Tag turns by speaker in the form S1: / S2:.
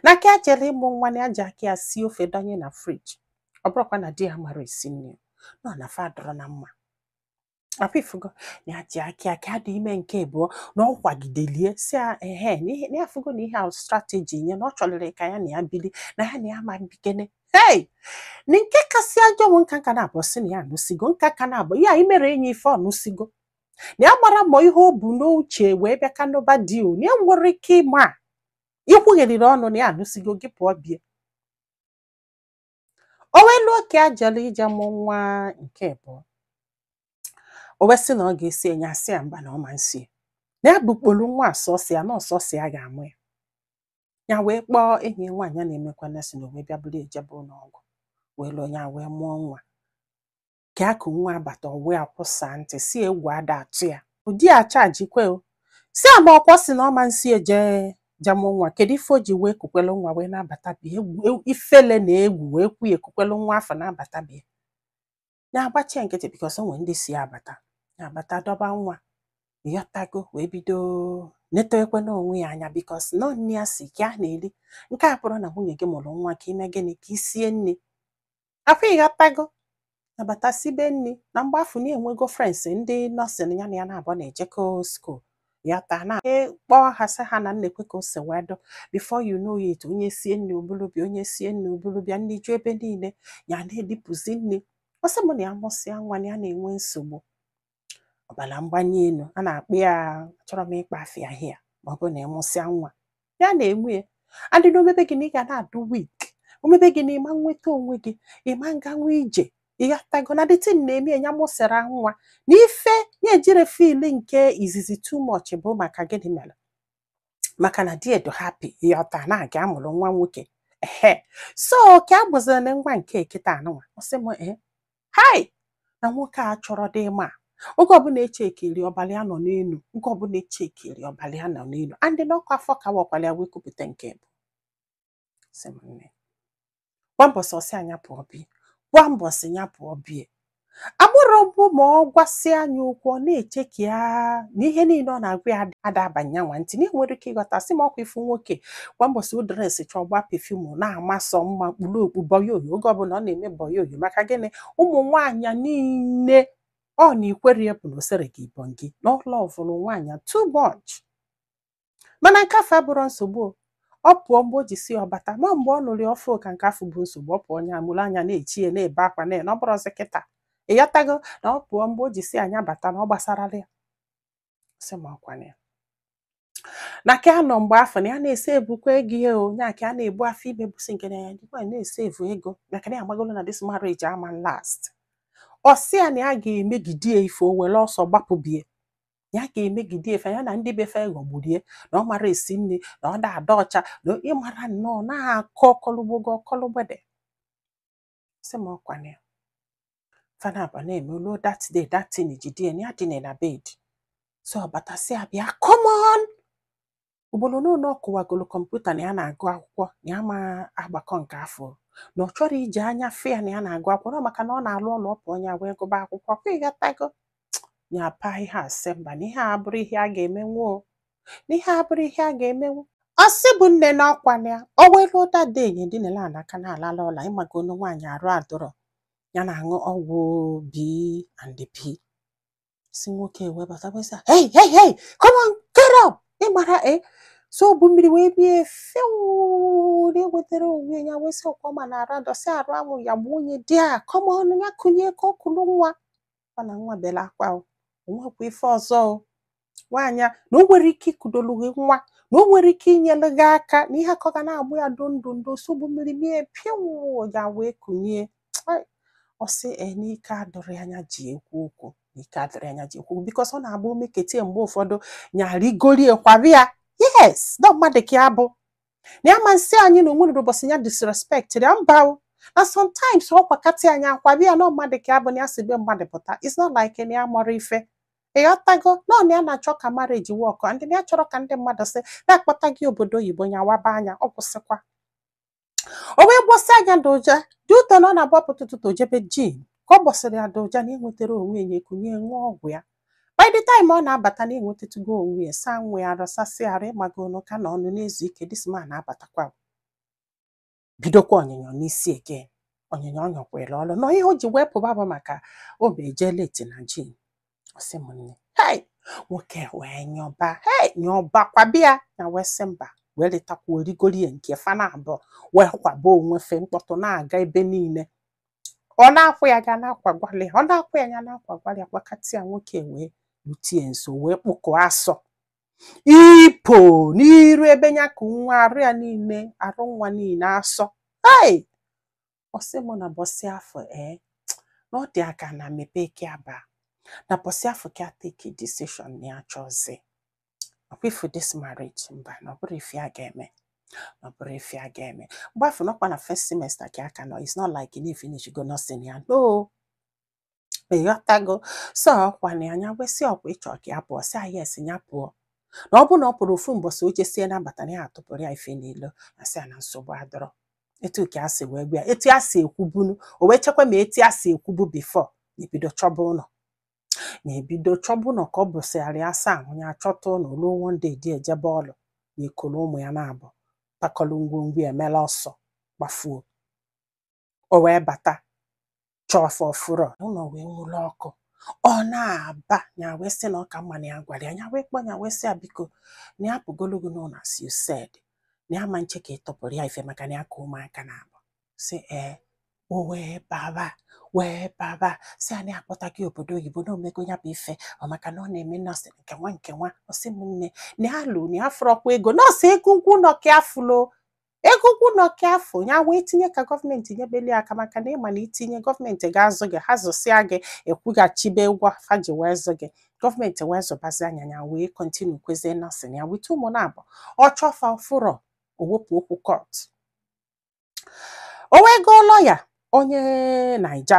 S1: na ka ya jere ịmụ nwa na ya ji aka ya sie ofe dọnye na friji ọ bụrọkwa na di ya amarọ esi nri no na fa adịrọ na mma ọkwa ifugo na ya ji aka ya ka ya dị ime nke abụọ na ọ kwagidelie si ya ehe na ihe- na ya fugo na ihe ahụ strateji nye na ọ chọlịrị ka ya na ya bili na ya na ya ma bikene hei na nke kasị ajọ bụ nka nka na-abụ si na ya anụsigo nka ka na-abụ ya imere enyi ife ọ nụsigo na ya mara ma ihe o bu n'uche wee bịa ka n'ụba di o na ya nwere ike ịma ikwugheriri ọnụ na ya anụsigo gị pụọ be ya o wee luo ka ya jere ije mụ nwa nke abụọ o wee sị na ọ ga-eso ya nya asị ya mba na ọ ma nso ya na ya bukpolu nwa a sọsọ ya na ọ sọsọ ya ga-amụ ya ya wee kpọọ enyi ya nwaanyị a na-emekwa nọsịn o wee bịa buru ya jebe ụlọ ọgwụ wee luo ya wee mụọ nwa ka ya ku nwa abata o wee kwụsaa ntị sị egwu ada atụ ya di ya achajikwe o sị ya ma ọkwa ọ sị na ọ ma nso ya eje ja mụ nwa kedu ife o ji wee kukwelu nwa wee na-abata be ya egwu e- ifele na egwu wee kwe ya ekukwelu nwa afụ na-abata be ya nya agbachi nkịtị bikos o nwere ndị si abata nya abata dọba nwa ịghọtago wee bido netewekwe onwe ya anya bikos nọ nne ya si ka a na-eri nke a bụrọ na nwunye gị mụrụ nwa ka i mee gịnị ka i sie nri afụ ịghọtago nya abata sibe nri na mgbe afụ na enwego frens ndị nọsịn ya na ya n'abụọ na-ejekọ skuul ya taa na kpọọ ha sị ha na nekwe ka o si wee dị before you know it onye sie nri o bulu bịa onye sie nri o bulu bịa nri ju ebe niile ya na-edipụzi nri ọ sị m na ya mụsịa nwa na ya na-enwe nsogbu ọbara mgbanye elu a na-akpọ ya achọrọ m ịkpọ afa ya aha ya ma ọ bụ na ị mụsịa nwa ya na-enwe ya adị na ọ mebe gị na ị ga na-adị wik ọ mebe gị na ị ma nweta onwe gị ị ma nganwu ije ịghọtago na dat tin na-eme ya mụsịra nwa na ife ya ejirọ fil nke izizi too much bụ maka gịnị mere maka na di ya dị hapi ịghọta na ya mụrụ nwa nwoke ehe so ka ọ bụziri na nwa nke kịta a nụnwa ọ sị m ee hai na nwoke a chọrọ dị ma oge ọbụla e chekiri ọbara ya nọ n'elu oge ọbụla e chekiri ọbara ya nọ n'elu and na ọ kwa afọ ka a wakwara ya wee kupụta nke bụ sị m nne kwa mbọsị ọ sị nya pụọ be ya kwa mbọsị ya pụọ be ya ọ bụrụ mbụ ma ọ gwasịa nya okwu ọ na-eche ka ya na ihe niile ọ na-agwa ya ada abanye nya ntị na enwere ike ịghọta sị m ọkwa ifu nwoke kwa mbọsị ọ dresichaa ọ gbaa pefumu na-ama sọ mma kpuru okpu bọyoyo oge ọbụla ọ na-eme bọyoyo maka gịnị ụmụ nwaanyị niile ọ na ikwere ya bụ na o sere gị ibọn gị na ọ lọvụrụ nwaanyị too much mana nke afụ abụrọ nsogbu o. ọ pụọ mgbe o ji sọ ọ bata ma mgbe ọ nụrụ ya ọfụụ ka nke afụ bụ nsogbu ọ pụọ nya amụrụ anya na-eche ya na-ebe akwa na na ọ bụrọzi kịta ịghọtago na ọ pụọ mgbe o ji sọ nya bata na ọ gbasarọ ya sị m ọ kwa na ya na ka anọ mgbe afụ na ya na-esevukwa ego ihe o nya ka a na-ebu afọ ime busi nke na ya dịkwa na-esevu ego maka na ya amagolo na this marriage ama last ọ sị ya na ya ga-emegide ya ife o were ọsọ gbapụ be ya ya ga-emegide ya ife ya na ndị be fa ghọgburie na ọ mara esi nri na ọ da-adị ọcha na ị mara nnọọ na-akọ ọkọlụgbogo ọkọlụgbede sị m ọ kwa na ya fa naabọ na-eme luo that day that thing jide ya na ya dina na bed so ọ batasị ya bịa come on ugboro ole ole ọ kụwagolo kọmputa na ya na-agụ akwụkwọ na ya ama agbakọ nke afụ na ọ chọrọ iji anya fụ ya na ya na-agụ akwụkwọ na ọ maka na ọ na-alụ ọlụ ọpụ onye wee gụba akwụkwọ kwa ị ghọtago ya apa ihe a sị mba na ihe a abụrọ ihe a ga-emenwu o na ihe a abụrọ ihe a ga-emenwu ọ sị m nne na ọ kwa na ya o nwelụ otu day nya dinela n'akwa na-alalụ ụla ị mago onu nwaanyị arụ adịrọ ya na-aṅụ ọgwụ b and p si nwoke wee bata wee sị hey hey hey come on get up ị mara e so o bu mmiri wee bie fewuu nya enwetara onwe ya wee sị ọ kwa ọ ma na arụ adịsị arụ anwụ ya gbuo onye di a come on ya kunie ka o kulu nwa kwa na nwa bere akwa o o nwekwa ife ọzọ o nwaanyị a na o nwere ike ikudolu gị nwa na o nwere ike inyere gị aka na ihe akọ ga na-agbụ ya do ndụ ndụ so o bu mmiri mie pịawụ ya wee kunie Ai, ọ sị ee na ike adịrọ nya ji ekwu okwu na ike adịrọ nya ji ekwu okwu because ọ na-abụ o mekatị ya mgbe ụfọdụ nya arigoro ya kwaba ya yes na mmadụ ka ya bụ na ya ama asị anyị na o nwerọ ụbọchị ya disrespect ya mba o. na sometimes ọ kwakatị ya nya akwaba ya na mmadụ ka ya bụ na ya si be mmadụ pụta it's not like na ya marọ ife ị ghọtago na ọ na ya na-achọ ka marriage work and na ya chọrọ ka ndị mmadụ sị na akpọta gị obodo oyibo ya waba anya ọ kwụsịkwa o wee gbọsị anya doja dị ụtọ na ọ na-agbapụta ụtụtụ o jebe gym ka ọ gbọsịrị ya doja nya enwetara onwe ya kunie ṅụọ ọgwụ ya by the time ọ na-abata nya enwetatụgo onwe ya saa nwa ya arụ sasịa arụ ị mago ọ nọ ka na ọ nọ na-ezu ike this man na-abatakwa bidokwa ọnyịnyọ n'isi again ọnyịnyọ ọ nyọkwara ọlụ na ihe o ji wee pụba bụ maka o be eje late na gym ọ sị m nne hei nwoke wee nyọba hei nyọba kwaba ya nya wee sị mba wee letakwuo rigoro ya nke fa naabọ wee kwaba onwe fa mkpọtụ na-aga ebe niile ọ na-akwa ya ya na-akwagwalụ ya ọ na-akwa ya ya na-akwagwalụ ya gbakatị ya nwoke wee lute ya nso wee kpụkọ asọ ipo n'iru ebe ya ku nwa arụ ya niile arụ nwa niile asọ hei ọ sị m na ụbọsị afụ ee na ọ dị ya ka ana mepee ka ya baa na ụbọsị afụ ka ya take decision na ya achọzi ọkwa ifu this marriage mba na ọ bụrọ ife a ga-eme na ọ bụrọ ife a ga-eme mgbe afụ ọ nọkwa na first semester ka ọ ka nọ it's not like na ifinish go nursing ya no ịghọtago so ọkwa na ya wee sị ọkwa ịchọ ka ya pụọ sị ya yes ya pụọ na ọ bụ na ọ pụrọ ofu mbọsị o jesie na-abata na ya atụpụrụ ya ife n'ilo ya sị ya na nsogbu adịrọ etu ka a si wee gwa ya etu a si ekwubunu o wee chekwa ma etu a si ekwubu before ya ebido chọba ụlọ ya ebido chọba ụlọ ka ọ bụsịgharị asaa ahụ ya achọta ụlọ ruo one day di ya ejebe ọlụ ya ekoro ụmụ ya naabọ kpakọlụ ngwongwo ya emela ọsọ gbafuo o wee bata chọọ fa ọ fụrọ ụlọ wee nwuru ọkụ ọ na-aba ya wee sị na ọ ka mma na ya gwara ya ya wee kpọ ya wee sị ya biko na ya apụgolu gị n'ụlọ as you said na ya ama eche ka ị tụpụrụ ya ife maka na ya ka ụmụaka naabọ si ee o wee baba wee baba sị ya na a kpọta gị obodo oyibo na omego ya bụ ife ọ maka na ọ na-eme nọọsụ nke nwa nke nwa ọ sị m nne na ya lụ na ya afụrọkwa ego nọọsụ ego ụgwọ ụlọ ka ya fụlụ ego ụgwọ ụlọ ka ya fụ ya wee tinye ka gọọmenti nyebelụ ya aka maka na ịma na itinye gọọmenti ga-azụ gị ha zụsịa gị ị kwụghachibe ụgwọ fa ji wee zụ gị gọọmenti wee zụbazie ya ya wee continue kwazie nọọsụ ya with ụmụ naabọ ọ chọọ fa ọ fụrọ o wepụ okwu court o wee goo lọya onye naija